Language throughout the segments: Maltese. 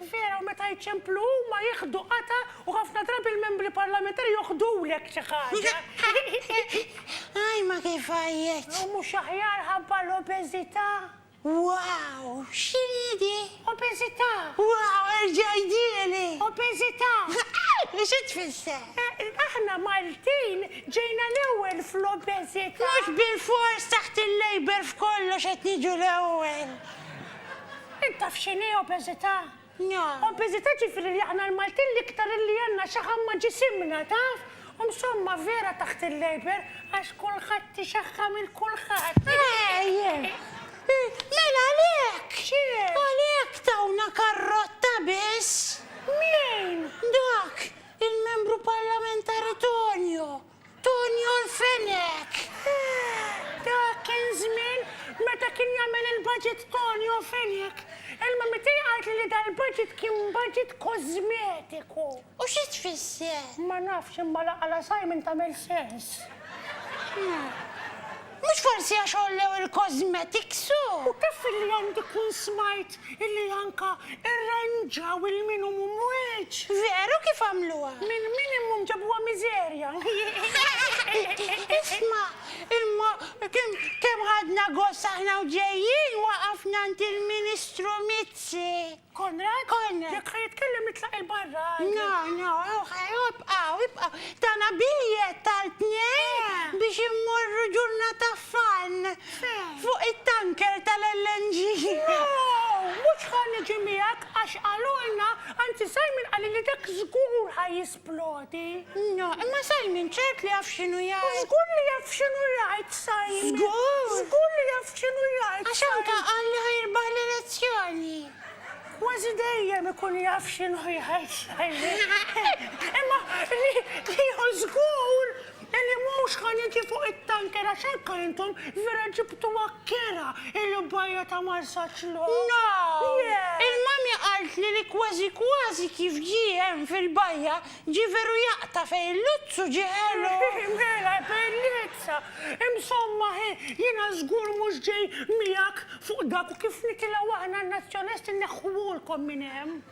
Vera u meta jċemplu huma jiħdu qatgħa u ħafna drabi l-membri parlamentari joħdulek xi ħaġa. Għajma kif għajjet. U mhux aħjar ħabba l-obeżità? Wow! X'inhi di? Obeżità! Wow, erġa' għidhieli! Obeżità! U xi tfisser? Aħna Maltin ġejna l-ewwel fl-obeżità. Mhux bilfors taħt il-Labour f'kollox qed niġu l-ewwel. Int taf x'inhi obeżità? No. Obeżità ġifieri li aħna l-Maltin l-iktar illi għandna xaħam ma' ġisimna, taf? U msomma vera taħt il-Labour għax kulħadd ixaħħam 'il kulħadd. Ejjn! Mela għalhekk! X'inhi? Għalhekk tawna karrotta biss! Min? Dak, il-Membru Parlamentari Tonio. Tonio l-Fenech! Eeh! Dak kien żmien meta kien jagħmel il-budget Tonio Fenech! Il-mommy tiegħi qaltli li dal-budget kien budget kożmetiku. U xi tfisser? Ma nafx imma l-għaqal għal Simon tagħmel sens. Eeh! Mhux forsi għax għollew il-cosmetics hu? U kif illi għandi kun smajt illi anka irranġaw il-minimum wage? Veru kif għamluha? Minn minimum ġabuha miżerja. Isma', imma kemm ħadna gost aħna u ġejjin waqafna għand il-Ministru Mizzi. Konrad? Konrad! Jekk ħa jitkellem nitlaq 'il barra! No, no, ibqgħu, ibqgħu. Tana biljett għal tnejn biex immorru ġurnata f'Faln. Fejn? Fuq it-tanker tal-LNG. No! Mhux ħa niġi miegħek għax qalulna, anzi Simon qalli li dak żgur ħa Ploti. No, imma Simon ċert li jaf x'inhu jgħid. Żgur li jaf x'inhu jgħid Simon. Żgur! Żgur li jaf x'inhu jgħid. Għax anke qal li ħa jirbaħ l-elezzjoni. Kważi dejjem ikun jaf x'inhu jgħid Simon. Imma li hu żgur Illi mhux ħa niġi fuq it-tanker għax anke intom vera ġibtuha kerha il-bajja ta' Marsaxlokk. No! Il-Mummy qaltli li kważi kważi kif ġie hemm fil-bajja, ġie veru jaqta' fejn il-luzzu ġie ħelu. Mela, fejn l-izza! Insomma, hi, jiena żgur mhux ġej miegħek fuq dak u kif nitilgħu aħna n-Nazzjonisti nneħħuhulkom minn hemm.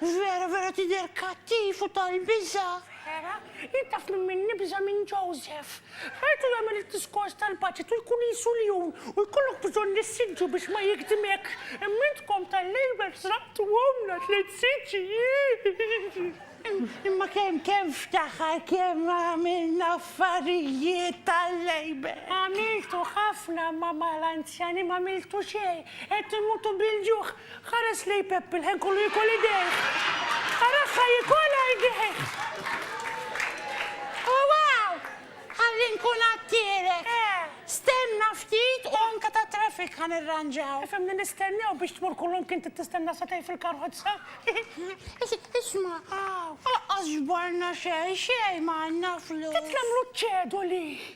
Vera, vera tidher kattiv u tal-biża'. Vera, jien taf minn min nibża' minn Joseph. Rajtu jagħmel id-diskors tal-budget u jkun qisu ljun u jkollok bżonn l-issiġġu biex ma jigdimekx. Imma intkom tal-Labour sraqtuhomna tliet siġġijiet. Imma kemm, kemm ftaħar kemm għamilna affarijiet tal-Labour. Għamiltu ħafna imma mal-anzjani m'għamiltu xejn. Qed imutu bil-ġuħ. Ħares lejn Peppi l-ħin kollu jiekol idejh. Araħħa jiekolha idejh! U wow! Ħalli nkun għattierek. Stenna ftit u anke tat-traffic ħa nirranġaw. Ifhimni nistennew biex tmur kull imkien trid tistenna sagħtejn fil-karozza. Isma', laqqas ġbarna xejn, xejn ma għandna flus. Titlem l-uċċedu li.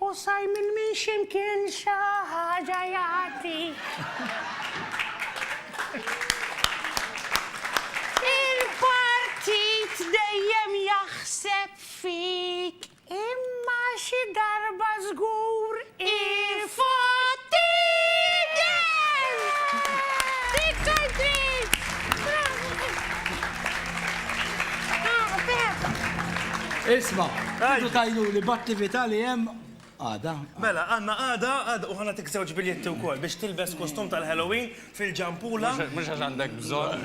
U Simon minn x'imkien xi ħaġa jagħti. Il-partit dejjem jaħseb fik imma xi darba żgur ifottik! Trick or treat! Isma'. Ħudu tajnuni b'attività li hemm għada. Mela, għandna għada, għada u ħa nagħtik żewġ biljetti wkoll biex tilbes kostum tal-Halloween fil-Ġampula. Mhux għax għandek bżonn.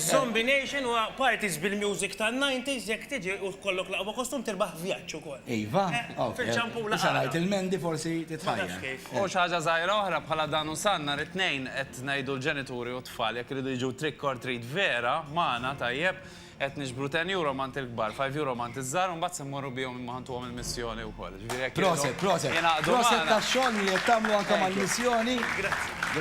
Zombie Nation huwa parties bil-music tan-90s, jekk tiġi u jkollok l-aqwa kostum tirbaħ vjaġġ ukoll. Iva? Okej. Fil-Ġampula. Issa ngħid il-Mendi forsi titħajjar. U xi ħaġa żgħira oħra bħala dan u san nhar it-Tnejn qed ngħidu l-ġenituri u t-tfal jekk iridu jiġu trick or treat vera magħna tajjeb, Qed niġbru ten euro m'għand il-kbar, five euro m'għand iż-żgħar u mbagħad se mmorru bihom imma ħa ntuhom il-missjoni wkoll. Ġifieri jekk jogħġbok ingħaqdu magħna. Proset, proset. Proset tax-xogħol li qed tagħmlu anke mal-missjoni. Grazzi.